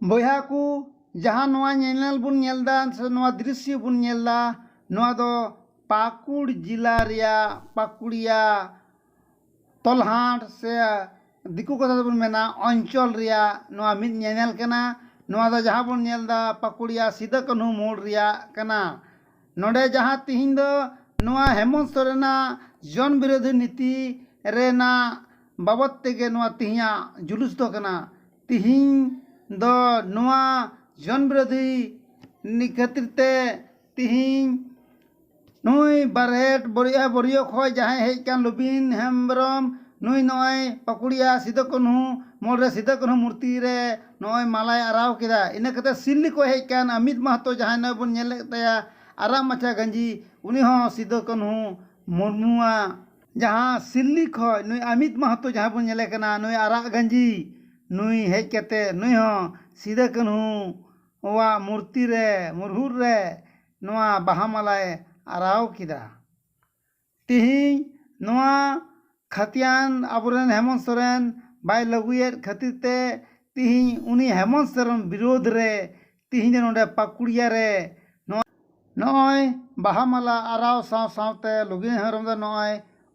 ᱵᱚᱭᱦᱟ ᱠᱚ ᱡᱟᱦᱟᱸ ᱱᱚᱣᱟ ᱧᱮᱱᱮᱞ ᱵᱚᱱ ᱧᱮᱞ ᱮᱫᱟ ᱥᱮ ᱱᱚᱣᱟ ᱫᱨᱤᱥᱥᱚ ᱵᱚᱱ ᱧᱮᱞ ᱮᱫᱟ ᱱᱚᱣᱟ ᱫᱚ ᱯᱟᱹᱠᱩᱲ ᱡᱮᱞᱟ ᱨᱮᱭᱟᱜ ᱯᱟᱹᱠᱩᱲᱤᱭᱟ ᱛᱚᱞᱦᱟᱴ ᱥᱮ ᱫᱤᱠᱩ ᱠᱟᱛᱷᱟ ᱛᱮᱵᱚᱱ ᱢᱮᱱᱟ ᱚᱧᱪᱚᱞ ᱨᱮᱭᱟᱜ ᱱᱚᱣᱟ ᱢᱤᱫ ᱧᱮᱱᱮᱞ ᱠᱟᱱᱟ ᱱᱚᱣᱟ ᱫᱚ ᱡᱟᱦᱟᱸ ᱵᱚᱱ ᱧᱮᱞ ᱮᱫᱟ ᱯᱟᱹᱠᱩᱲᱤᱭᱟ ᱥᱤᱫᱩ ᱠᱟᱹᱱᱦᱩ ᱢᱳᱲ ᱨᱮᱭᱟᱜ ᱠᱟᱱᱟ ᱱᱚᱰᱮ ᱡᱟᱦᱟᱸ ᱛᱤᱦᱤᱧ ᱫᱚ ᱱᱚᱣᱟ ᱦᱮᱢᱚᱱᱛ ᱥᱚᱨᱮᱱᱟᱜ ᱡᱚᱱ ᱵᱤᱨᱳᱫᱷᱤ ᱱᱤᱛᱤ ᱨᱮᱱᱟᱜ ᱵᱟᱵᱚᱛ ᱛᱮᱜᱮ ᱱᱚᱣᱟ ᱛᱤᱦᱤᱧᱟᱜ ᱡᱩᱞᱩᱥ ᱫᱚ ᱠᱟᱱᱟ ᱛᱤᱦᱤᱧ ᱫᱚ ᱱᱚᱣᱟ ᱡᱚᱱ ᱵᱤᱨᱳᱫᱷᱤ ᱱᱤ ᱠᱷᱟᱹᱛᱤᱨ ᱛᱮ ᱛᱤᱦᱤᱧ ᱱᱩᱭ ᱵᱟᱨᱦᱮᱴ ᱵᱳᱨᱭᱟ ᱵᱳᱨᱭᱳ ᱠᱷᱚᱱ ᱡᱟᱦᱟᱸᱭ ᱦᱮᱡ ᱟᱠᱟᱱ ᱞᱩᱵᱤᱱ ᱦᱮᱢᱵᱨᱚᱢ ᱱᱩᱭ ᱱᱚᱜᱼᱚᱭ ᱯᱟᱹᱠᱩᱲᱤᱭᱟ ᱥᱤᱫᱩ ᱠᱟᱹᱱᱦᱩ ᱢᱳᱲ ᱨᱮ ᱥᱤᱫᱩ ᱠᱟᱹᱱᱦᱩ ᱢᱩᱨᱛᱤ ᱨᱮ ᱱᱚᱜᱼᱚᱭ ᱢᱟᱞᱟᱭ ᱟᱨᱟᱣ ᱠᱮᱫᱟ ᱤᱱᱟᱹ ᱠᱟᱛᱮ ᱥᱤᱞᱞᱤ ᱠᱚ ᱦᱮᱡ ᱟᱠᱟᱱ ᱟᱢᱤᱛ ᱢᱟᱦᱟᱛᱚ ᱡᱟᱦᱟᱸᱭ ᱱᱚᱜᱼᱚᱭ ᱵᱚᱱ ᱧᱮᱞᱮᱫ ᱛᱟᱭᱟ ᱟᱨᱟᱜ ᱢᱟᱪᱷᱟ ᱜᱟᱹᱧᱡᱤ ᱩᱱᱤ ᱦᱚᱸ ᱥᱤᱫᱩ ᱠᱟᱹᱱᱦᱩ ᱢᱩᱨᱢᱩᱣᱟᱜ ᱡᱟᱦᱟᱸ ᱥᱤᱞᱞᱤ ᱠᱷᱚᱱ ᱱᱩᱭ ᱟᱢᱤᱛ ᱢᱟᱦᱟᱛᱚ ᱡᱟᱦᱟᱸᱭ ᱵᱚᱱ ᱧᱮᱞᱮ ᱠᱟᱱᱟ ᱱᱩᱭ ᱟᱨᱟᱜ ᱜᱟᱹᱧᱡᱤ ᱱᱩᱭ ᱦᱮᱡ ᱠᱟᱛᱮ ᱱᱩᱭ ᱦᱚᱸ ᱥᱤᱫᱩ ᱠᱟᱹᱱᱦᱩ ᱣᱟᱜ ᱢᱩᱨᱛᱤ ᱨᱮ ᱢᱩᱨᱦᱩᱫ ᱨᱮ ᱱᱚᱣᱟ ᱵᱟᱦᱟ ᱢᱟᱞᱟᱭ ᱟᱨᱟᱣ ᱠᱮᱫᱟ ᱛᱤᱦᱤᱧ ᱱᱚᱣᱟ ᱠᱷᱟᱹᱛᱤᱭᱟᱱ ᱟᱵᱚ ᱨᱮᱱ ᱦᱮᱢᱚᱱᱛ ᱥᱚᱨᱮᱱ ᱵᱟᱭ ᱞᱟᱹᱜᱩᱭᱮᱫ ᱠᱷᱟᱹᱛᱤᱨ ᱛᱮ ᱛᱤᱦᱤᱧ ᱩᱱᱤ ᱦᱮᱢᱚᱱᱛ ᱥᱚᱨᱮᱱ ᱵᱤᱨᱳᱫᱷ ᱨᱮ ᱛᱤᱦᱤᱧ ᱫᱚ ᱱᱚᱰᱮ ᱯᱟᱹᱠᱩᱲᱤᱭᱟᱹ ᱨᱮ ᱱᱚᱜᱼᱚᱭ ᱵᱟᱦᱟ ᱢᱟᱞᱟ ᱟᱨᱟᱣ ᱥᱟᱶ ᱥᱟᱶᱛᱮ ᱞᱚᱜᱤᱱ ᱦᱮᱢᱵᱨᱚᱢ ᱫᱚ ᱱᱚᱜᱼᱚᱭ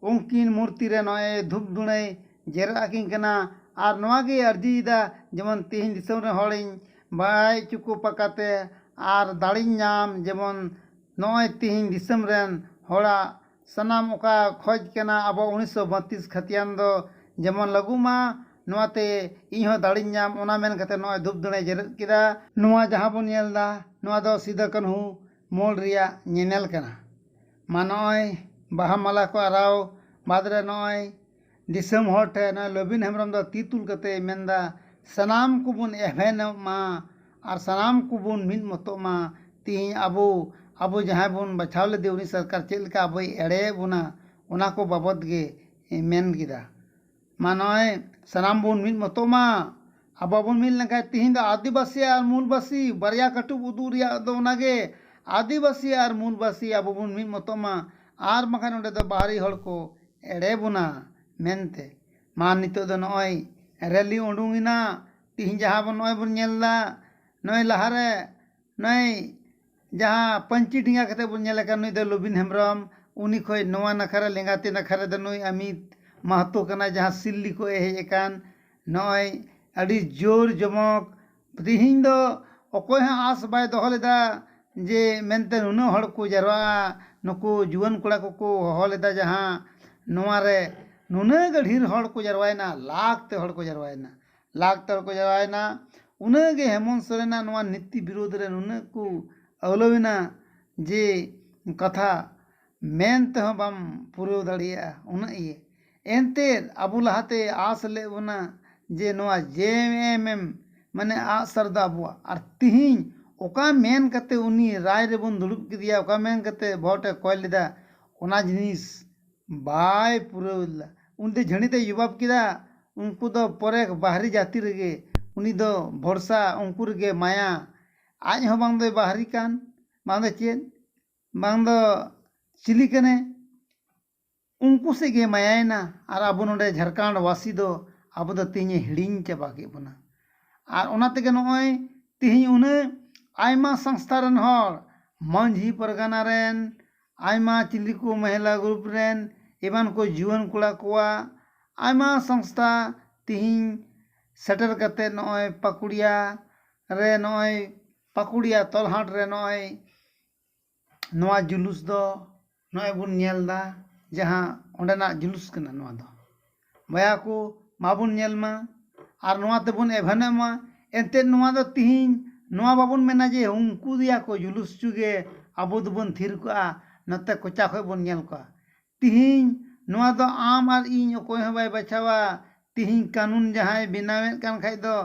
ᱩᱱᱠᱤᱱ ᱢᱩᱨᱛᱤ ᱨᱮ ᱱᱚᱜᱼᱚᱭ ᱫᱷᱩᱯ ᱫᱷᱩᱬᱟᱹᱭ ᱡᱮᱨᱮᱫ ᱟᱹᱠᱤᱱ ᱠᱟᱱᱟ ᱟᱨ ᱱᱚᱣᱟ ᱜᱮᱭ ᱟᱹᱨᱡᱤᱭᱮᱫᱟ ᱡᱮᱢᱚᱱ ᱛᱤᱦᱤᱧ ᱫᱤᱥᱚᱢ ᱨᱮᱱ ᱦᱚᱲᱤᱧ ᱵᱟᱲᱟᱭ ᱦᱚᱪᱚ ᱠᱚ ᱯᱟᱠᱟᱛᱮ ᱟᱨ ᱫᱟᱲᱮᱧ ᱧᱟᱢ ᱡᱮᱢᱚᱱ ᱱᱚᱜᱼᱚᱭ ᱛᱤᱦᱤᱧ ᱫᱤᱥᱟᱹᱢ ᱨᱮᱱ ᱦᱚᱲᱟᱜ ᱥᱟᱱᱟᱢ ᱚᱠᱟ ᱠᱷᱚᱡ ᱠᱟᱱᱟ ᱟᱵᱚ ᱩᱱᱤᱥ ᱥᱚ ᱵᱟᱹᱛᱤᱥ ᱠᱷᱟᱹᱛᱤᱭᱟᱱ ᱫᱚ ᱡᱮᱢᱚᱱ ᱞᱟᱹᱜᱩᱜ ᱢᱟ ᱱᱚᱣᱟ ᱛᱮ ᱤᱧ ᱦᱚᱸ ᱫᱟᱲᱮᱧ ᱧᱟᱢ ᱚᱱᱟ ᱢᱮᱱ ᱠᱟᱛᱮ ᱱᱚᱜᱼᱚᱭ ᱫᱷᱩᱯ ᱫᱷᱩᱬᱟᱹᱭ ᱡᱮᱨᱮᱫ ᱠᱮᱫᱟ᱾ ᱱᱚᱣᱟ ᱡᱟᱦᱟᱸ ᱵᱚᱱ ᱧᱮᱞ ᱫᱟ ᱱᱚᱣᱟ ᱫᱚ ᱥᱤᱫᱚ ᱠᱟᱹᱱᱦᱩ ᱢᱳᱲ ᱨᱮᱭᱟᱜ ᱧᱮᱱᱮᱞ ᱠᱟᱱᱟ᱾ ᱢᱟ ᱱᱚᱜᱼᱚᱭ ᱵᱟᱦᱟ ᱢᱟᱞᱟ ᱠᱚ ᱟᱨᱟᱣ ᱵᱟᱫᱽ ᱨᱮ ᱱᱚᱜᱼᱚᱭ ᱫᱤᱥᱚᱢ ᱦᱚᱲ ᱴᱷᱮᱱ ᱱᱚᱜᱼᱚᱭ ᱞᱚᱵᱤᱱ ᱦᱮᱢᱵᱨᱚᱢ ᱫᱚ ᱛᱤ ᱛᱩᱞ ᱠᱟᱛᱮ ᱢᱮᱱ ᱮᱫᱟ ᱥᱟᱱᱟᱢ ᱠᱚᱵᱚᱱ ᱮᱵᱷᱮᱱᱚᱜ ᱢᱟ ᱟᱨ ᱥᱟᱱᱟᱢ ᱠᱚᱵᱚᱱ ᱢᱤᱫ ᱢᱚᱛᱚᱜ ᱢᱟ ᱛᱮᱦᱮᱧ ᱟᱵᱚ ᱟᱵᱚ ᱡᱟᱦᱟᱸᱭ ᱵᱚᱱ ᱵᱟᱪᱷᱟᱣ ᱞᱮᱫᱮ ᱩᱱᱤ ᱥᱚᱨᱠᱟᱨ ᱪᱮᱫ ᱞᱮᱠᱟ ᱟᱵᱚᱭ ᱮᱲᱮᱭᱮᱫ ᱵᱚᱱᱟ ᱚᱱᱟ ᱠᱚ ᱵᱟᱵᱚᱛ ᱜᱮ ᱢᱮᱱ ᱠᱮᱫᱟ ᱢᱟ ᱱᱚᱜᱼᱚᱭ ᱥᱟᱱᱟᱢ ᱵᱚᱱ ᱢᱤᱫ ᱢᱚᱛᱚᱜ ᱢᱟ ᱟᱵᱚ ᱵᱟᱵᱚᱱ ᱢᱤᱫ ᱞᱮᱱᱠᱷᱟᱱ ᱛᱮᱦᱮᱧ ᱫᱚ ᱟᱹᱫᱤᱵᱟᱹᱥᱤ ᱟᱨ ᱢᱩᱞᱵᱟᱹᱥᱤ ᱵᱟᱨᱭᱟ ᱠᱟᱹᱴᱩᱵ ᱩᱫᱩᱜ ᱨᱮᱭᱟᱜ ᱫᱚ ᱚᱱᱟ ᱜᱮ ᱟᱹᱫᱤᱵᱟᱹᱥᱤ ᱟᱨ ᱢᱩᱞᱵᱟᱹᱥᱤ ᱟᱵᱚ ᱵᱚᱱ ᱢᱤᱫ ᱢᱚᱛᱚᱜ ᱢᱟ ᱟᱨ ᱵᱟᱝᱠᱷᱟᱱ ᱱᱚᱰᱮ ᱫᱚ ᱵᱟᱦᱨᱮ ᱦᱚᱲ ᱠᱚ ᱮᱲᱮ ᱵᱚᱱᱟ ᱢᱮᱱᱛᱮ ᱢᱟ ᱱᱤᱛᱚᱜ ᱫᱚ ᱱᱚᱜᱼᱚᱭ ᱨᱮᱞᱤ ᱩᱰᱩᱝ ᱮᱱᱟ ᱛᱤᱦᱤᱧ ᱡᱟᱦᱟᱸ ᱵᱚᱱ ᱱᱚᱜᱼᱚᱭ ᱵᱚᱱ ᱧᱮᱞ ᱮᱫᱟ ᱱᱚᱜᱼᱚᱭ ᱞᱟᱦᱟ ᱨᱮ ᱱᱚᱜᱼᱚᱭ ᱡᱟᱦᱟᱸ ᱯᱟᱹᱧᱪᱤ ᱰᱮᱸᱜᱟ ᱠᱟᱛᱮᱫ ᱵᱚᱱ ᱧᱮᱞᱮ ᱠᱟᱱ ᱱᱩᱭ ᱫᱚ ᱞᱩᱵᱤᱱ ᱦᱮᱢᱵᱨᱚᱢ ᱩᱱᱤ ᱠᱷᱚᱱ ᱱᱚᱣᱟ ᱱᱟᱠᱷᱟ ᱨᱮ ᱞᱮᱸᱜᱟ ᱛᱤ ᱱᱟᱠᱷᱟ ᱨᱮᱫᱚ ᱱᱩᱭ ᱟᱢᱤᱛ ᱢᱟᱦᱟᱛᱳ ᱠᱟᱱᱟᱭ ᱡᱟᱦᱟᱸᱭ ᱥᱤᱞᱞᱤ ᱠᱷᱚᱱᱮ ᱦᱮᱡ ᱟᱠᱟᱱ ᱱᱚᱜᱼᱚᱭ ᱟᱹᱰᱤ ᱡᱳᱨ ᱡᱚᱢᱚᱠ ᱛᱤᱦᱤᱧ ᱫᱚ ᱚᱠᱚᱭ ᱦᱚᱸ ᱟᱸᱥ ᱵᱟᱭ ᱫᱚᱦᱚ ᱞᱮᱫᱟ ᱡᱮ ᱢᱮᱱᱛᱮ ᱱᱩᱱᱟᱹᱜ ᱦᱚᱲ ᱠᱚ ᱡᱟᱣᱨᱟᱜᱼᱟ ᱱᱩᱠᱩ ᱡᱩᱣᱟᱹᱱ ᱠᱚᱲᱟ ᱠᱚᱠᱚ ᱦᱚᱦᱚ ᱞᱮᱫᱟ ᱡᱟᱦᱟᱸ ᱱᱚᱣᱟ ᱨᱮ ᱱᱩᱱᱟᱹᱜ ᱜᱟᱱ ᱰᱷᱮᱨ ᱦᱚᱲ ᱠᱚ ᱡᱟᱣᱨᱟᱭᱮᱱᱟ ᱞᱟᱠᱷ ᱛᱮ ᱦᱚᱲ ᱠᱚ ᱡᱟᱣᱨᱟᱭᱮᱱᱟ ᱞᱟᱠᱷ ᱛᱮ ᱦᱚᱲ ᱠᱚ ᱡᱟᱣᱨᱟᱭᱮᱱᱟ ᱩᱱᱟᱹᱜ ᱜᱮ ᱦᱮᱢᱚᱱᱛ ᱥᱚᱨᱮᱱᱟᱜ ᱱᱚᱣᱟ ᱱᱤᱛᱤ ᱵᱤᱨᱩᱫᱽ ᱨᱮ ᱱᱩᱱᱟᱹᱜ ᱠᱚ ᱟᱹᱣᱞᱟᱹᱣ ᱮᱱᱟ ᱡᱮ ᱠᱟᱛᱷᱟ ᱢᱮᱱ ᱛᱮᱦᱚᱸ ᱵᱟᱢ ᱯᱩᱨᱟᱹᱣ ᱫᱟᱲᱮᱭᱟᱜᱼᱟ ᱩᱱᱟᱹᱜ ᱤᱭᱟᱹ ᱮᱱᱛᱮᱫ ᱟᱵᱚ ᱞᱟᱦᱟᱛᱮᱭ ᱟᱸᱥ ᱞᱮᱫ ᱵᱚᱱᱟ ᱡᱮ ᱱᱚᱣᱟ ᱡᱮᱹᱮᱹᱮᱢᱹᱮᱢᱹ ᱢᱟᱱᱮ ᱟᱸᱜ ᱥᱟᱨ ᱫᱚ ᱟᱵᱚᱣᱟᱜ ᱟᱨ ᱛᱤᱦᱤᱧ ᱚᱠᱟ ᱢᱮᱱ ᱠᱟᱛᱮ ᱩᱱᱤ ᱨᱟᱭ ᱨᱮᱵᱚᱱ ᱫᱩᱲᱩᱵ ᱠᱮᱫᱮᱭᱟ ᱚᱠᱟ ᱢᱮᱱ ᱠᱟᱛᱮ ᱵᱷᱳᱴ ᱮ ᱠᱚᱭ ᱞᱮᱫᱟ ᱚᱱᱟ ᱡᱤᱱᱤᱥ ᱵᱟᱭ ᱯᱩᱨᱟᱹᱣ ᱞᱮᱫᱟ ᱩᱱᱤ ᱫᱚ ᱡᱷᱟᱹᱲᱤ ᱛᱮᱭ ᱡᱚᱵᱟᱵᱽ ᱠᱮᱫᱟ ᱩᱱᱠᱩ ᱫᱚ ᱯᱚᱨᱮᱠ ᱵᱟᱦᱨᱤ ᱡᱟᱹᱛᱤ ᱨᱮᱜᱮ ᱩᱱᱤ ᱫᱚ ᱵᱷᱚᱨᱥᱟ ᱩᱱᱠᱩ ᱨᱮᱜᱮ ᱢᱟᱭᱟ ᱟᱡ ᱦᱚᱸ ᱵᱟᱝ ᱫᱚᱭ ᱵᱟᱦᱨᱤ ᱠᱟᱱ ᱵᱟᱝ ᱫᱚ ᱪᱮᱫ ᱵᱟᱝ ᱫᱚ ᱪᱤᱞᱤ ᱠᱟᱱᱮ ᱩᱱᱠᱩ ᱥᱮᱫ ᱜᱮ ᱢᱟᱭᱟᱭᱮᱱᱟ ᱟᱨ ᱟᱵᱚ ᱱᱚᱰᱮ ᱡᱷᱟᱲᱠᱷᱚᱸᱰ ᱵᱟᱹᱥᱤ ᱫᱚ ᱟᱵᱚ ᱫᱚ ᱛᱮᱦᱮᱧᱮ ᱦᱤᱲᱤᱧ ᱪᱟᱵᱟ ᱠᱮᱫ ᱵᱚᱱᱟ ᱟᱨ ᱚᱱᱟ ᱛᱮᱜᱮ ᱱᱚᱜᱼᱚᱭ ᱛᱮᱦᱮᱧ ᱩᱱᱟᱹᱜ ᱟᱭᱢᱟ ᱥᱚᱝᱥᱛᱷᱟ ᱨᱮᱱ ᱦᱚᱲ ᱢᱟᱹᱡᱷᱤ ᱯᱟᱨᱜᱟᱱᱟ ᱨᱮᱱ ᱟᱭᱢᱟ ᱪᱤᱞᱤ ᱠᱚ ᱢᱚᱦᱤᱞᱟ ᱜᱨᱩᱯ ᱨᱮᱱ ᱮᱢᱟᱱ ᱠᱚ ᱡᱩᱣᱟᱹᱱ ᱠᱚᱲᱟ ᱠᱚᱣᱟᱜ ᱟᱭᱢᱟ ᱥᱚᱝᱥᱛᱷᱟ ᱛᱮᱦᱮᱧ ᱥᱮᱴᱮᱨ ᱠᱟᱛᱮ ᱱᱚᱜᱼᱚᱭ ᱯᱟᱹᱠᱩᱲᱤᱭᱟ ᱨᱮ ᱱᱚᱜᱼᱚᱭ ᱯᱟᱹᱠᱩᱲᱤᱭᱟ ᱛᱚᱞᱦᱟᱴ ᱨᱮ ᱱᱚᱜᱼᱚᱭ ᱱᱚᱣᱟ ᱡᱩᱞᱩᱥ ᱫᱚ ᱱᱚᱜᱼᱚᱭ ᱵᱚᱱ ᱧᱮᱞ ᱫᱟ ᱡᱟᱦᱟᱸ ᱚᱸᱰᱮᱱᱟᱜ ᱡᱩᱞᱩᱥ ᱠᱟᱱᱟ ᱱᱚᱣᱟ ᱫᱚ ᱵᱚᱭᱦᱟ ᱠᱚ ᱢᱟᱵᱚᱱ ᱧᱮᱞ ᱢᱟ ᱟᱨ ᱱᱚᱣᱟ ᱛᱮᱵᱚᱱ ᱮᱵᱷᱮᱱᱚᱜ ᱢᱟ ᱮᱱᱛᱮᱜ ᱱᱚᱣᱟ ᱫᱚ ᱛᱤᱦᱤᱧ ᱱᱚᱣᱟ ᱵᱟᱵᱚᱱ ᱢᱮᱱᱟ ᱡᱮ ᱩᱱᱠᱩ ᱫᱮᱭᱟ ᱠᱚ ᱡᱩᱞᱩᱥ ᱦᱚᱪᱚᱜᱮ ᱟᱵᱚ ᱫᱚᱵᱚᱱ ᱛᱷᱤᱨ ᱠᱚᱜᱼᱟ ᱱᱚᱛᱮ ᱠᱚᱪᱟ ᱠᱷᱚᱱ ᱵᱚᱱ ᱧᱮᱞ ᱠᱚᱣᱟ ᱛᱤᱦᱤᱧ ᱱᱚᱣᱟ ᱫᱚ ᱟᱢ ᱟᱨ ᱤᱧ ᱚᱠᱚᱭ ᱦᱚᱸ ᱵᱟᱭ ᱵᱟᱪᱷᱟᱣᱟ᱾ ᱛᱤᱦᱤᱧ ᱠᱟᱹᱱᱩᱱ ᱡᱟᱦᱟᱸᱭ ᱵᱮᱱᱟᱣᱮᱫ ᱠᱟᱱ ᱠᱷᱟᱡ ᱫᱚ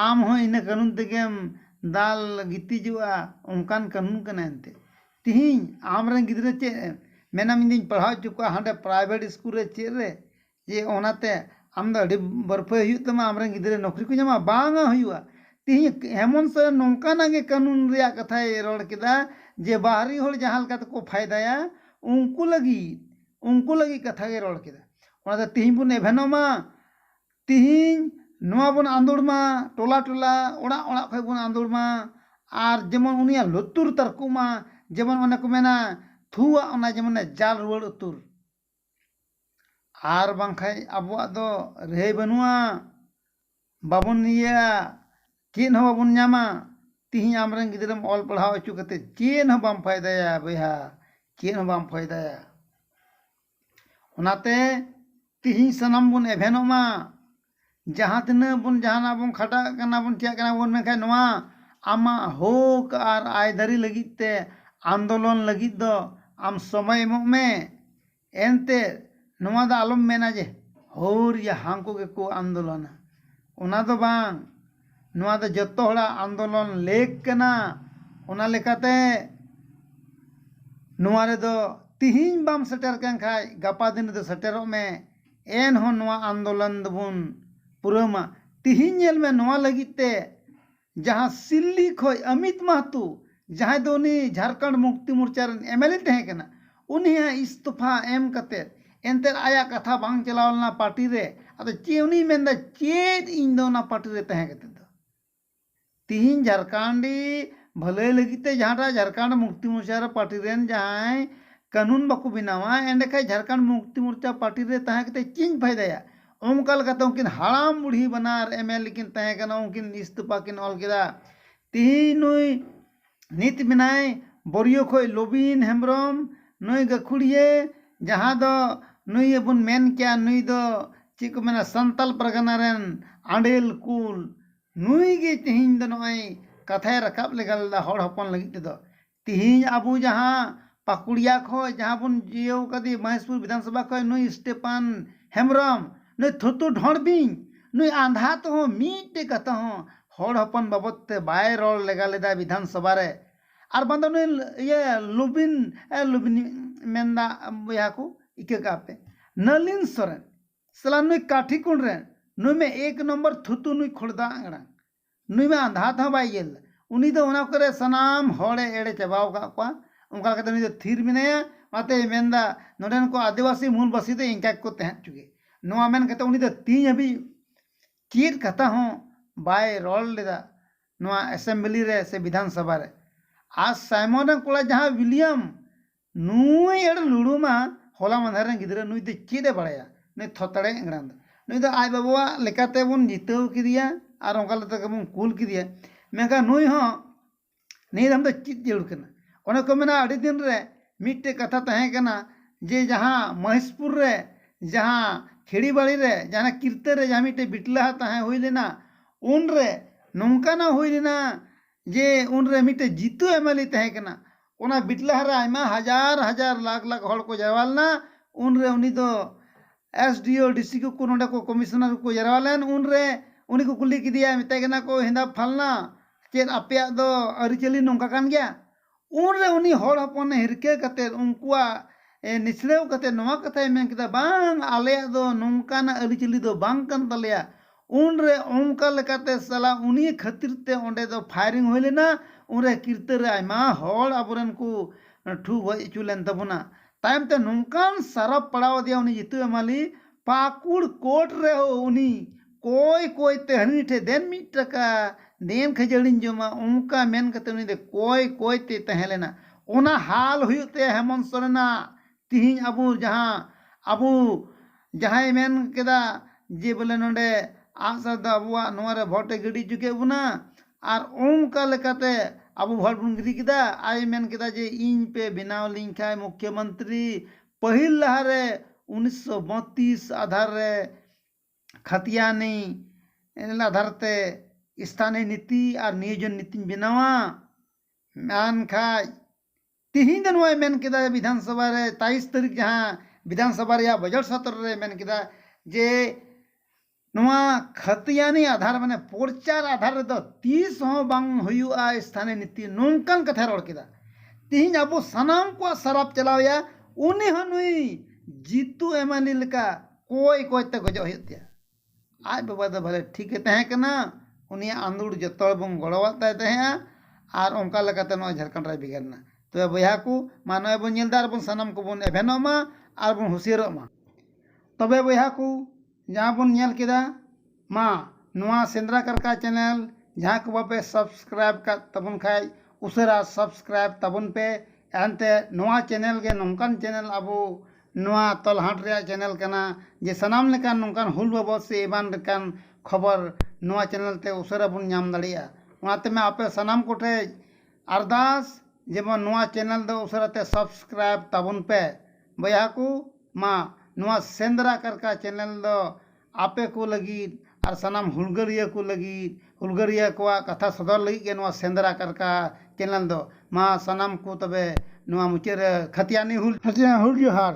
ᱟᱢ ᱦᱚᱸ ᱤᱱᱟᱹ ᱠᱟᱹᱱᱩᱱ ᱛᱮᱜᱮᱢ ᱫᱟᱞ ᱜᱤᱛᱤᱡᱚᱜᱼᱟ ᱚᱱᱠᱟᱱ ᱠᱟᱹᱱᱩᱱ ᱠᱟᱱᱟ ᱮᱱᱛᱮ᱾ ᱛᱤᱦᱤᱧ ᱟᱢ ᱨᱮᱱ ᱜᱤᱫᱽᱨᱟᱹ ᱪᱮᱫ ᱮᱢ ᱢᱮᱱᱟᱢ ᱤᱧ ᱫᱚᱧ ᱯᱟᱲᱦᱟᱣ ᱚᱪᱚ ᱠᱚᱣᱟ ᱦᱟᱸᱰᱮ ᱯᱨᱟᱭᱵᱷᱮᱴ ᱤᱥᱠᱩᱞ ᱨᱮ ᱪᱮᱫ ᱨᱮ᱾ ᱡᱮ ᱚᱱᱟᱛᱮ ᱟᱢ ᱫᱚ ᱟᱹᱰᱤ ᱵᱟᱹᱨᱯᱟᱹᱭ ᱦᱩᱭᱩᱜ ᱛᱟᱢᱟ ᱟᱢ ᱨᱮᱱ ᱜᱤᱫᱽᱨᱟᱹ ᱱᱚᱠᱨᱤ ᱠᱚ ᱧᱟᱢᱟ ᱵᱟᱝᱟ ᱦᱩᱭᱩᱜᱼᱟ ᱛᱮᱦᱮᱧ ᱦᱮᱢᱚᱱᱛ ᱥᱚᱨᱮᱱ ᱱᱚᱝᱠᱟᱱᱟᱜ ᱜᱮ ᱠᱟᱹᱱᱩᱱ ᱨᱮᱭᱟᱜ ᱠᱟᱛᱷᱟᱭ ᱨᱚᱲ ᱠᱮᱫᱟ ᱡᱮ ᱵᱟᱦᱨᱮ ᱦᱚᱲ ᱡᱟᱦᱟᱸ ᱞᱮᱠᱟ ᱛᱮᱠᱚ ᱯᱷᱟᱭᱫᱟᱭᱟ ᱩᱱᱠᱩ ᱞᱟᱹᱜᱤᱫ ᱩᱱᱠᱩ ᱞᱟᱹᱜᱤᱫ ᱠᱟᱛᱷᱟ ᱜᱮᱭ ᱨᱚᱲ ᱠᱮᱫᱟ ᱚᱱᱟᱛᱮ ᱛᱮᱦᱮᱧ ᱵᱚᱱ ᱮᱵᱷᱮᱱᱚᱜ ᱢᱟ ᱛᱮᱦᱮᱧ ᱱᱚᱣᱟ ᱵᱚᱱ ᱟᱸᱫᱳᱲ ᱢᱟ ᱴᱚᱞᱟ ᱴᱚᱞᱟ ᱚᱲᱟᱜ ᱚᱲᱟᱜ ᱠᱷᱚᱱ ᱵᱚᱱ ᱟᱸᱫᱳᱲ ᱢᱟ ᱟᱨ ᱡᱮᱢᱚᱱ ᱩᱱᱤᱭᱟᱜ ᱞᱩᱛᱩᱨ ᱛᱟᱹᱨᱠᱚᱜ ᱢᱟ ᱡᱮᱢᱚᱱ ᱚᱱᱮ ᱠᱚ ᱢᱮᱱᱟ ᱛᱷᱩᱣᱟᱜ ᱚᱱᱟ ᱡᱮᱢᱚᱱᱮ ᱡᱟᱞ ᱨᱩᱣᱟᱹᱲ ᱩᱛᱟᱹᱨ ᱟᱨ ᱵᱟᱝᱠᱷᱟᱱ ᱟᱵᱚᱣᱟᱜ ᱫᱚ ᱨᱮᱦᱟᱹᱭ ᱵᱟᱹᱱᱩᱜᱼᱟ ᱵᱟᱵᱚᱱ ᱤᱭᱟᱹᱭᱟ ᱪᱮᱫ ᱦᱚᱸ ᱵᱟᱵᱚᱱ ᱧᱟᱢᱟ ᱛᱮᱦᱤᱧ ᱟᱢ ᱨᱮᱱ ᱜᱤᱫᱽᱨᱟᱹᱢ ᱚᱞ ᱯᱟᱲᱦᱟᱣ ᱦᱚᱪᱚ ᱠᱟᱛᱮ ᱪᱮᱫ ᱦᱚᱸ ᱵᱟᱢ ᱯᱷᱟᱭᱫᱟᱭᱟ ᱵᱚᱭᱦᱟ ᱪᱮᱫ ᱦᱚᱸ ᱵᱟᱢ ᱯᱷᱟᱭᱫᱟᱭᱟ ᱚᱱᱟᱛᱮ ᱛᱮᱦᱤᱧ ᱥᱟᱱᱟᱢ ᱵᱚᱱ ᱮᱵᱷᱮᱱᱚᱜ ᱢᱟ ᱡᱟᱦᱟᱸ ᱛᱤᱱᱟᱹᱜ ᱵᱚᱱ ᱡᱟᱦᱟᱱᱟᱜ ᱵᱚᱱ ᱠᱷᱟᱴᱟᱜ ᱠᱟᱱᱟ ᱵᱚᱱ ᱪᱤᱠᱟᱹᱜ ᱠᱟᱱᱟ ᱵᱚᱱ ᱢᱮᱱᱠᱷᱟᱱ ᱱᱚᱣᱟ ᱟᱢᱟᱜ ᱦᱚᱸᱠ ᱟᱨ ᱟᱹᱭᱫᱟᱹᱨᱤ ᱞᱟᱹᱜᱤᱫ ᱛᱮ ᱟᱱᱫᱳᱞᱚᱱ ᱞᱟᱹᱜᱤᱫ ᱫᱚ ᱟᱢ ᱥᱚᱢᱚᱭ ᱮᱢᱚᱜ ᱢᱮ ᱮᱱᱛᱮ ᱱᱚᱣᱟ ᱫᱚ ᱟᱞᱚᱢ ᱢᱮᱱᱟ ᱡᱮ ᱦᱳᱨ ᱭᱟ ᱦᱟᱱᱠᱩ ᱜᱮᱠᱚ ᱟᱱᱫᱳᱞᱚᱱᱟ ᱚᱱᱟ ᱫᱚ ᱵᱟᱝ ᱱᱚᱣᱟ ᱫᱚ ᱡᱚᱛᱚ ᱦᱚᱲᱟᱜ ᱟᱱᱫᱳᱞᱚᱱ ᱞᱮᱠ ᱠᱟᱱᱟ ᱚᱱᱟ ᱞᱮᱠᱟᱛᱮ ᱱᱚᱣᱟ ᱨᱮᱫᱚ ᱛᱮᱦᱮᱧ ᱵᱟᱢ ᱥᱮᱴᱮᱨ ᱠᱟᱱ ᱠᱷᱟᱱ ᱜᱟᱯᱟ ᱫᱤᱱ ᱨᱮᱫᱚ ᱥᱮᱴᱮᱨᱚᱜ ᱢᱮ ᱮᱱᱦᱚᱸ ᱱᱚᱣᱟ ᱟᱱᱫᱚᱞᱚᱱ ᱫᱚᱵᱚᱱ ᱯᱩᱨᱟᱹᱣ ᱢᱟ᱾ ᱛᱤᱦᱤᱧ ᱧᱮᱞ ᱢᱮ ᱱᱚᱣᱟ ᱞᱟᱹᱜᱤᱫ ᱛᱮ ᱡᱟᱦᱟᱸ ᱥᱤᱞᱞᱤ ᱠᱷᱚᱡ ᱟᱢᱤᱛ ᱢᱟᱦᱛᱳ ᱡᱟᱦᱟᱸᱭ ᱫᱚ ᱩᱱᱤ ᱡᱷᱟᱨᱠᱷᱚᱸᱰ ᱢᱩᱠᱛᱤ ᱢᱳᱨᱪᱟ ᱨᱮᱱ ᱮᱢᱮᱞᱮ ᱛᱟᱦᱮᱸ ᱠᱟᱱᱟ ᱩᱱᱤ ᱦᱟᱸᱜ ᱤᱥᱛᱚᱯᱷᱟ ᱮᱢ ᱠᱟᱛᱮ ᱮᱱᱛᱮ ᱟᱭᱟᱜ ᱠᱟᱛᱷᱟ ᱵᱟᱝ ᱪᱟᱞᱟᱣ ᱞᱮᱱᱟ ᱯᱟᱨᱴᱤ ᱨᱮ ᱟᱫᱚ ᱪᱮᱫ ᱩᱱᱤᱭ ᱢᱮᱱ ᱮᱫᱟ ᱪᱮᱫ ᱤᱧ ᱫᱚ ᱚᱱᱟ ᱯᱟᱨᱴᱤ ᱨᱮ ᱛᱟᱦᱮᱸ ᱠᱟᱛᱮ ᱫᱚ᱾ ᱛᱤᱦᱤᱧ ᱡᱷᱟᱨᱠᱷᱟᱱᱰᱤ ᱵᱷᱟᱹᱞᱟᱹᱭ ᱞᱟᱹᱜᱤᱫ ᱛᱮ ᱡᱟᱦᱟᱸᱴᱟᱜ ᱡᱷᱟᱨᱠᱷᱟᱱᱰ ᱢᱩᱠᱛᱤ ᱢᱚᱨᱪᱟ ᱨᱮ ᱯᱟᱨᱴᱤ ᱨᱮᱱ ᱡᱟᱦᱟᱸᱭ ᱠᱟᱹᱱᱩᱱ ᱵᱟᱠᱚ ᱵᱮᱱᱟᱣᱟ ᱮᱸᱰᱮᱠᱷᱟᱱ ᱡᱷᱟᱨᱠᱷᱟᱱᱰ ᱢᱩᱠᱛᱤ ᱢᱚᱨᱪᱟ ᱯᱟᱨᱴᱤ ᱨᱮ ᱛᱟᱦᱮᱸ ᱠᱟᱛᱮ ᱪᱮᱫ ᱤᱧ ᱯᱷᱟᱭᱫᱟᱭᱟ ᱚᱱᱠᱟ ᱞᱮᱠᱟᱛᱮ ᱩᱱᱠᱤᱱ ᱦᱟᱲᱟᱢ ᱵᱩᱲᱦᱤ ᱵᱟᱱᱟᱨ ᱮᱢ ᱮᱞ ᱮ ᱠᱤᱱ ᱛᱟᱦᱮᱸ ᱠᱟᱱᱟ ᱩᱱᱠᱤᱱ ᱤᱥᱛᱚᱯᱷᱟ ᱠᱤᱱ ᱚᱞ ᱠᱮᱫᱟ ᱛᱤᱦᱤᱧ ᱱᱩᱭ ᱱᱤᱛ ᱢᱮᱱᱟᱭ ᱵᱳᱨᱤᱭᱳ ᱠᱷᱚᱱ ᱞᱚᱵᱤᱱ ᱦᱮᱢᱵᱨᱚᱢ ᱱᱩᱭ ᱜᱟᱹᱠᱷᱩᱲᱤᱭᱟᱹ ᱡᱟᱦᱟᱸ ᱫᱚ ᱱᱩᱭ ᱵᱚᱱ ᱢᱮᱱ ᱠᱮᱭᱟ ᱱᱩᱭ ᱫᱚ ᱪᱮᱫ ᱠᱚ ᱢᱮᱱᱟ ᱥᱟᱱᱛᱟᱞ ᱯᱟᱨᱜᱟᱱᱟ ᱨᱮᱱ ᱟᱸᱰᱮᱞ ᱠᱩᱞ ᱱᱩᱭ ᱜᱮ ᱛᱮᱦᱮᱧ ᱫᱚ ᱱᱚᱜᱼᱚᱭ ᱠᱟᱛᱷᱟᱭ ᱨᱟᱠᱟᱵ ᱞᱮᱜᱟ ᱞᱮᱫᱟ ᱦᱚᱲ ᱦᱚᱯᱚᱱ ᱞᱟᱹᱜᱤᱫ ᱛᱮᱫᱚ ᱛᱮᱦᱮᱧ ᱟᱵᱚ ᱡᱟᱦᱟᱸ ᱯᱟᱠᱩᱲᱤᱭᱟ ᱠᱷᱚᱱ ᱡᱟᱦᱟᱸ ᱵᱚᱱ ᱡᱤᱭᱟᱹᱣ ᱟᱠᱟᱫᱮ ᱢᱚᱦᱮᱥᱯᱩᱨ ᱵᱤᱫᱷᱟᱱ ᱥᱚᱵᱷᱟ ᱠᱷᱚᱱ ᱱᱩᱭ ᱥᱴᱮᱯᱷᱟᱱ ᱦᱮᱢᱵᱨᱚᱢ ᱱᱩᱭ ᱛᱷᱩᱛᱩ ᱰᱷᱚᱸᱰ ᱵᱤᱧ ᱱᱩᱭ ᱟᱸᱫᱷᱟ ᱛᱮᱦᱚᱸ ᱢᱤᱫᱴᱮᱱ ᱠᱟᱛᱷᱟ ᱦᱚᱸ ᱦᱚᱲ ᱦᱚᱯᱚᱱ ᱵᱟᱵᱚᱛ ᱛᱮ ᱵᱟᱭ ᱨᱚᱲ ᱞᱮᱜᱟ ᱞᱮᱫᱟ ᱵᱤᱫᱷᱟᱱ ᱥᱚᱵᱷᱟ ᱨᱮ ᱟᱨ ᱵᱟᱝ ᱫᱚ ᱱᱩᱭ ᱤᱭᱟᱹ ᱞᱩᱵᱤᱱ ᱞᱩᱵᱤᱱᱤ ᱢᱮᱱ ᱮᱫᱟ ᱵᱚᱭᱦᱟ ᱠᱚ ᱤᱠᱟᱹ ᱠᱟᱜ ᱯᱮ ᱱᱟᱹᱞᱤᱱ ᱥᱚᱨᱮᱱ ᱥᱟᱞᱟ ᱱᱩᱭ ᱠᱟᱴᱷᱤᱠᱩᱲ ᱨᱮᱱ ᱱᱩᱭ ᱢᱟ ᱮᱠ ᱱᱚᱢᱵᱚᱨ ᱛᱷᱩᱛᱩ ᱱᱩᱭ ᱠᱷᱚᱲᱫᱟ ᱟᱝᱜᱽᱲᱟᱝ ᱱᱩᱭ ᱢᱟ ᱟᱸᱫᱷᱟ ᱛᱮᱦᱚᱸ ᱵᱟᱭ ᱧᱮᱞ ᱮᱫᱟ ᱩᱱᱤ ᱫᱚ ᱚᱱᱟ ᱠᱚᱨᱮ ᱥᱟᱱᱟᱢ ᱦᱚᱲᱮ ᱮᱲᱮ ᱪᱟᱵᱟ ᱟᱠᱟᱫ ᱠᱚᱣᱟ ᱚᱱᱠᱟ ᱞᱮᱠᱟᱛᱮ ᱩᱱᱤ ᱫᱚ ᱛᱷᱤᱨ ᱢᱮᱱᱟᱭᱟ ᱚᱱᱟᱛᱮᱭ ᱢᱮᱱᱫᱟ ᱱᱚᱰᱮᱱ ᱠᱚ ᱟᱹᱫᱤᱵᱟᱹᱥᱤ ᱢᱩᱞ ᱵᱟᱹᱥᱤ ᱫᱚ ᱤᱱᱠᱟ ᱜᱮᱠᱚ ᱛᱟᱦᱮᱸ ᱦᱚᱪᱚᱜ ᱜᱮ ᱱᱚᱣᱟ ᱢᱮᱱ ᱠᱟᱛᱮᱫ ᱩᱱᱤ ᱫᱚ ᱛᱤᱦᱤᱧ ᱦᱟᱹᱵᱤᱡ ᱪᱮᱫ ᱠᱟᱛᱷᱟ ᱦᱚᱸ ᱵᱟᱭ ᱨᱚᱲ ᱞᱮᱫᱟ ᱱᱚᱣᱟ ᱮᱥᱮᱢᱵᱽᱞᱤ ᱨᱮ ᱥᱮ ᱵᱤᱫᱷᱟᱱ ᱥᱚᱵᱷᱟ ᱨᱮ ᱟᱨ ᱥᱟᱭᱢᱚᱱ ᱨᱮᱱ ᱠᱚᱲᱟ ᱡᱟᱦᱟᱸᱭ ᱩᱭᱞᱤᱭᱟᱢ ᱱᱩᱭ ᱟᱹᱰᱤ ᱞᱩᱲᱩᱢᱟ ᱦᱚᱞᱟ ᱢᱟᱫᱷᱮᱨ ᱨᱮᱱ ᱜᱤᱫᱽᱨᱟᱹ ᱱᱩᱭ ᱫᱚ ᱪᱮᱫ ᱮ ᱵᱟᱲᱟᱭᱟ ᱱᱩᱭ ᱛᱷᱚᱛᱲᱮ ᱮᱝᱲᱟ ᱫᱚ ᱱᱩᱭ ᱫᱚ ᱟᱡ ᱵᱟᱵᱟᱣᱟᱜ ᱞᱮᱠᱟᱛᱮ ᱵᱚᱱ ᱡᱤᱛᱟᱹᱣ ᱠᱮᱫᱮᱭᱟ ᱟᱨ ᱚᱱᱠᱟ ᱞᱮᱠᱟ ᱛᱮᱜᱮ ᱵᱚᱱ ᱠᱩᱞ ᱠᱮᱫᱮᱭᱟ ᱢᱮᱱᱠᱷᱟᱱ ᱱᱩᱭ ᱦᱚᱸ ᱱᱤᱭᱟᱹ ᱫᱷᱟᱢ ᱫᱚ ᱪᱮᱫ ᱡᱟᱹᱨᱩᱲ ᱠᱟᱱᱟ ᱚᱱᱮ ᱠᱚ ᱢᱮᱱᱟ ᱟᱹᱰᱤ ᱫᱤᱱ ᱨᱮ ᱢᱤᱫᱴᱮᱱ ᱠᱟᱛᱷᱟ ᱛᱟᱦᱮᱸ ᱠᱟᱱᱟ ᱡᱮ ᱡᱟᱦᱟᱸ ᱢᱚᱦᱮᱥᱯᱩᱨ ᱨᱮ ᱡᱟᱦᱟᱸ ᱠᱷᱮᱲᱤ ᱵᱟᱲᱮ ᱨᱮ ᱡᱟᱦᱟᱸ ᱨᱮ ᱠᱤᱨᱛᱟᱹ ᱨᱮ ᱡᱟᱦᱟᱸ ᱢᱤᱫᱴᱮᱱ ᱵᱤᱴᱞᱟᱹ ᱦᱟᱸᱜ ᱛᱟᱦᱮᱸ ᱦᱩᱭ ᱞᱮᱱᱟ ᱩᱱ ᱨᱮ ᱱᱚᱝᱠᱟᱱᱟᱜ ᱦᱩᱭ ᱞᱮᱱᱟ ᱡᱮ ᱩᱱ ᱨᱮ ᱢᱤᱫᱴᱮᱱ ᱡᱤᱛᱟᱹ ᱮᱢᱮᱞᱮ ᱛᱟᱦᱮᱸ ᱠᱟᱱᱟ ᱚᱱᱟ ᱵᱤᱴᱞᱟᱦᱟ ᱨᱮ ᱟᱭᱢᱟ ᱦᱟᱡᱟᱨ ᱦᱟᱡᱟᱨ ᱞᱟᱠᱷ ᱞᱟᱠᱷ ᱦᱚᱲ ᱠᱚ ᱡᱟᱨᱣᱟ ᱞᱮᱱᱟ ᱩᱱ ᱨᱮ ᱩᱱᱤ ᱫᱚ ᱮᱥ ᱰᱤ ᱳ ᱰᱤ ᱥᱤ ᱠᱚ ᱠᱚ ᱱᱚᱰᱮ ᱠᱚ ᱠᱚᱢᱤᱥᱚᱱᱟᱨ ᱠᱚ ᱠᱚ ᱡᱟᱨᱣᱟ ᱞᱮᱱ ᱩᱱ ᱨᱮ ᱩᱱᱤ ᱠᱚ ᱠᱩᱞᱤ ᱠᱮᱫᱮᱭᱟ ᱢᱮᱛᱟᱭ ᱠᱟᱱᱟ ᱠᱚ ᱦᱮᱸᱫᱟ ᱯᱷᱟᱞᱱᱟ ᱪᱮᱫ ᱟᱯᱮᱭᱟᱜ ᱫᱚ ᱟᱹᱨᱤᱪᱟᱹᱞᱤ ᱱᱚᱝᱠᱟ ᱠᱟᱱ ᱜᱮᱭᱟ ᱩᱱ ᱨᱮ ᱩᱱᱤ ᱦᱚᱲ ᱦᱚᱯᱚᱱᱮ ᱦᱤᱨᱠᱟᱹ ᱠᱟᱛᱮ ᱩᱱᱠᱩᱣᱟᱜ ᱱᱤᱥᱲᱟᱹᱣ ᱠᱟᱛᱮ ᱱᱚᱣᱟ ᱠᱟᱛᱷᱟᱭ ᱢᱮᱱ ᱠᱮᱫᱟ ᱵᱟᱝ ᱟᱞᱮᱭᱟᱜ ᱫᱚ ᱱᱚᱝᱠᱟᱱᱟᱜ ᱟᱹᱨᱤᱪᱟᱹᱞᱤ ᱫᱚ ᱵᱟᱝ ᱠᱟᱱ ᱛᱟᱞᱮᱭᱟ ᱩᱱ ᱨᱮ ᱚᱱᱠᱟ ᱞᱮᱠᱟᱛᱮ ᱥᱟᱞᱟ ᱩᱱᱤ ᱠᱷᱟᱹᱛᱤᱨ ᱛᱮ ᱚᱸᱰᱮ ᱫᱚ ᱯᱷᱟᱭᱨᱤᱝ ᱦᱩᱭ ᱞᱮᱱᱟ ᱩᱱ ᱨᱮ ᱠᱤᱨᱛᱟᱹ ᱨᱮ ᱟᱭᱢᱟ ᱦᱚᱲ ᱟᱵᱚ ᱨᱮᱱ ᱠᱚ ᱴᱷᱩ ᱜᱚᱡ ᱚᱪᱚ ᱞᱮᱱ ᱛᱟᱵᱚᱱᱟ ᱛᱟᱭᱚᱢ ᱛᱮ ᱱᱚᱝᱠᱟᱱ ᱥᱟᱨᱟᱯ ᱯᱟᱲᱟᱣ ᱟᱫᱮᱭᱟ ᱩᱱᱤ ᱡᱤᱛᱟᱹ ᱟᱢᱟᱞᱤ ᱯᱟᱹᱠᱩᱲ ᱠᱳᱨᱴ ᱨᱮ ᱦᱚᱸ ᱩᱱᱤ ᱠᱚᱭ ᱠᱚᱭ ᱛᱮ ᱦᱟᱹᱱᱤ ᱴᱷᱮᱱ ᱫᱮᱱ ᱢᱤᱫ ᱴᱟᱠᱟ ᱫᱮᱱ ᱠᱷᱟᱹᱡᱟᱹᱲᱤᱧ ᱡᱚᱢᱟ ᱚᱱᱠᱟ ᱢᱮᱱ ᱠᱟᱛᱮ ᱩᱱᱤ ᱫᱚ ᱠᱚᱭ ᱠᱚᱭ ᱛᱮᱭ ᱛᱟᱦᱮᱸ ᱞᱮᱱᱟ ᱚᱱᱟ ᱦᱟᱞ ᱦᱩᱭᱩᱜ ᱛᱟᱭᱟ ᱦᱮᱢᱚᱱᱛ ᱥᱚᱨᱮᱱᱟᱜ ᱛᱤᱦᱤᱧ ᱟᱵᱚ ᱡᱟᱦᱟᱸ ᱟᱵᱚ ᱡᱟᱦᱟᱸᱭ ᱢᱮᱱ ᱠᱮᱫᱟ ᱡᱮ ᱵᱚᱞᱮ ᱱᱚᱰᱮ ᱟᱜᱼᱥᱟᱨ ᱫᱚ ᱟᱵᱚᱣᱟᱜ ᱱᱚᱣᱟ ᱨᱮ ᱵᱷᱳᱴ ᱮ ᱜᱤᱰᱤ ᱦᱚᱪᱚ ᱠᱮᱫ ᱵᱚᱱᱟ ᱟᱨ ᱚᱱᱠᱟ ᱞᱮᱠᱟᱛᱮ ᱟᱵᱚ ᱵᱷᱳᱴ ᱵᱚᱱ ᱜᱤᱰᱤ ᱠᱮᱫᱟ ᱟᱡ ᱮ ᱢᱮᱱ ᱠᱮᱫᱟ ᱡᱮ ᱤᱧ ᱯᱮ ᱵᱮᱱᱟᱣ ᱞᱤᱧ ᱠᱷᱟᱱ ᱢᱩᱠᱷᱭᱚ ᱢᱚᱱᱛᱨᱤ ᱯᱟᱹᱦᱤᱞ ᱞᱟᱦᱟ ᱨᱮ ᱩᱱᱤᱥᱥᱚ ᱵᱚᱛᱛᱨᱤᱥ ᱟᱫᱷᱟᱨ ᱨᱮ ᱠᱷᱟᱛᱤᱭᱟᱱᱤ ᱟᱫᱷᱟᱨ ᱛᱮ ᱥᱛᱷᱟᱱᱤ ᱱᱤᱛᱤ ᱟᱨ ᱱᱤᱭᱳᱡᱚᱱ ᱱᱤᱛᱤᱧ ᱵᱮᱱᱟᱣᱟ ᱢᱮᱱᱠᱷᱟᱱ ᱛᱤᱦᱤᱧ ᱫᱚ ᱱᱚᱣᱟᱭ ᱢᱮᱱ ᱠᱮᱫᱟ ᱵᱤᱫᱷᱟᱱ ᱥᱚᱵᱷᱟ ᱨᱮ ᱛᱟᱭᱤᱥ ᱛᱟᱹᱨᱤᱠᱷ ᱡᱟᱦᱟᱸ ᱵᱤᱫᱷᱟᱱ ᱥᱚᱵᱷᱟ ᱨᱮᱭᱟᱜ ᱵᱚᱡᱚᱴ ᱥᱚᱛᱨᱚ ᱨᱮ ᱢᱮᱱ ᱠᱮᱫᱟ ᱡᱮ ᱱᱚᱣᱟ ᱠᱷᱟᱹᱛᱤᱭᱟᱱᱤ ᱟᱫᱷᱟᱨ ᱢᱟᱱᱮ ᱯᱨᱚᱪᱟᱨ ᱟᱫᱷᱟᱨ ᱨᱮᱫᱚ ᱛᱤᱥ ᱦᱚᱸ ᱵᱟᱝ ᱦᱩᱭᱩᱜᱼᱟ ᱥᱛᱷᱟᱱᱤ ᱱᱤᱛᱤ ᱱᱚᱝᱠᱟᱱ ᱠᱟᱛᱷᱟᱭ ᱨᱚᱲ ᱠᱮᱫᱟ ᱛᱤᱦᱤᱧ ᱟᱵᱚ ᱥᱟᱱᱟᱢ ᱠᱚᱣᱟᱜ ᱥᱟᱨᱟᱯ ᱪᱟᱞᱟᱣᱭᱟ ᱩᱱᱤ ᱦᱚᱸ ᱱᱩᱭ ᱡᱤᱛᱩ ᱮᱢᱟᱱᱤ ᱞᱮᱠᱟ ᱠᱚᱭ ᱠᱚᱭ ᱛᱮ ᱜᱚᱡᱚᱜ ᱦᱩᱭᱩᱜ ᱛᱟᱭᱟ ᱟᱡ ᱵᱟᱵᱟ ᱫᱚ ᱵᱷᱟᱞᱮ ᱴᱷᱤᱠᱮ ᱛᱟᱦᱮᱸ ᱠᱟᱱᱟ ᱩᱱᱤᱭᱟᱜ ᱟᱸᱫᱳᱲ ᱡᱚᱛᱚ ᱦᱚᱲ ᱵᱚᱱ ᱜᱚᱲᱚᱣᱟᱫ ᱛᱟᱭ ᱛᱟᱦᱮᱸᱜᱼᱟ ᱟᱨ ᱚᱱᱠᱟ ᱞᱮᱠᱟᱛᱮ ᱱᱚᱜᱼᱚᱭ ᱡᱷᱟᱲᱠᱷᱚᱸᱰ ᱨᱟᱡᱽ ᱵᱷᱮᱜᱟᱨ ᱮᱱᱟ ᱛᱚᱵᱮ ᱵᱚᱭᱦᱟ ᱠᱚ ᱢᱟ ᱱᱚᱜᱼᱚᱭ ᱵᱚᱱ ᱧᱮᱞᱫᱟ ᱟᱨ ᱵᱚᱱ ᱥᱟᱱᱟᱢ ᱠᱚᱵᱚᱱ ᱮᱵᱷᱮᱱᱚᱜ ᱢᱟ ᱟᱨ ᱵᱚᱱ ᱦᱩᱥᱭᱟᱹᱨᱚᱜ ᱢᱟ ᱛᱚᱵᱮ ᱵᱚᱭᱦᱟ ᱠᱚ ᱡᱟᱦᱟᱸ ᱵᱚᱱ ᱧᱮᱞ ᱠᱮᱫᱟ ᱢᱟ ᱱᱚᱣᱟ ᱥᱮᱸᱫᱽᱨᱟ ᱠᱟᱨᱠᱟ ᱪᱮᱱᱮᱞ ᱡᱟᱦᱟᱸᱭ ᱠᱚ ᱵᱟᱯᱮ ᱥᱟᱵᱥᱠᱨᱟᱭᱤᱵᱽ ᱠᱟᱜ ᱛᱟᱵᱚᱱ ᱠᱷᱟᱡ ᱩᱥᱟᱹᱨᱟ ᱥᱟᱵᱥᱠᱨᱟᱭᱤᱵᱽ ᱛᱟᱵᱚᱱ ᱯᱮ ᱮᱱᱛᱮ ᱱᱚᱣᱟ ᱪᱮᱱᱮᱞ ᱜᱮ ᱱᱚᱝᱠᱟᱱ ᱪᱮᱱᱮᱞ ᱟᱵᱚ ᱱᱚᱣᱟ ᱛᱚᱞᱦᱟᱸᱴ ᱨᱮᱭᱟᱜ ᱪᱮᱱᱮᱞ ᱠᱟᱱᱟ ᱡᱮ ᱥᱟᱱᱟᱢ ᱞᱮᱠᱟᱱ ᱱᱚᱝᱠᱟᱱ ᱦᱩᱞ ᱵᱟᱵᱚᱛ ᱥᱮ ᱮᱢᱟᱱ ᱞᱮᱠᱟᱱ ᱠᱷᱚᱵᱚᱨ ᱱᱚᱣᱟ ᱪᱮᱱᱮᱞ ᱛᱮ ᱩᱥᱟᱹᱨᱟ ᱵᱚᱱ ᱧᱟᱢ ᱫᱟᱲᱮᱭᱟᱜᱼᱟ ᱚᱱᱟᱛᱮ ᱢᱮᱱᱟ ᱟᱯᱮ ᱥᱟᱱᱟᱢ ᱠᱚᱴᱷᱮᱱ ᱟᱨᱫᱟᱥ ᱡᱮᱢᱚᱱ ᱱᱚᱣᱟ ᱪᱮᱱᱮᱞ ᱫᱚ ᱩᱥᱟᱹᱨᱟ ᱛᱮ ᱥᱟᱵᱥᱠᱨᱟᱭᱤᱵᱽ ᱛᱟᱵᱚᱱ ᱯᱮ ᱵᱚᱭᱦᱟ ᱠᱚ ᱢᱟ ᱱᱚᱣᱟ ᱥᱮᱸᱫᱽᱨᱟ ᱠᱟᱨᱠᱟ ᱪᱮᱱᱮᱞ ᱫᱚ ᱟᱯᱮ ᱠᱚ ᱞᱟᱹᱜᱤᱫ ᱟᱨ ᱥᱟᱱᱟᱢ ᱦᱩᱞᱜᱟᱹᱨᱤᱭᱟᱹ ᱠᱚ ᱞᱟᱹᱜᱤᱫ ᱦᱩᱞᱜᱟᱹᱨᱤᱭᱟᱹ ᱠᱚᱣᱟᱜ ᱠᱟᱛᱷᱟ ᱥᱚᱫᱚᱨ ᱞᱟᱹᱜᱤᱫ ᱜᱮ ᱱᱚᱣᱟ ᱥᱮᱸᱫᱽᱨᱟ ᱠᱟᱨᱠᱟ ᱪᱮᱱᱮᱞ ᱫᱚ ᱢᱟ ᱥᱟᱱᱟᱢ ᱠᱚ ᱛᱚᱵᱮ ᱱᱚᱣᱟ ᱢᱩᱪᱟᱹᱫ ᱨᱮ ᱠᱷᱟᱛᱤᱭᱟᱱᱤ ᱦᱩᱞ ᱠᱷᱟᱛᱤᱭᱟᱱᱤ ᱦᱩᱞ ᱡᱚᱦᱟᱨ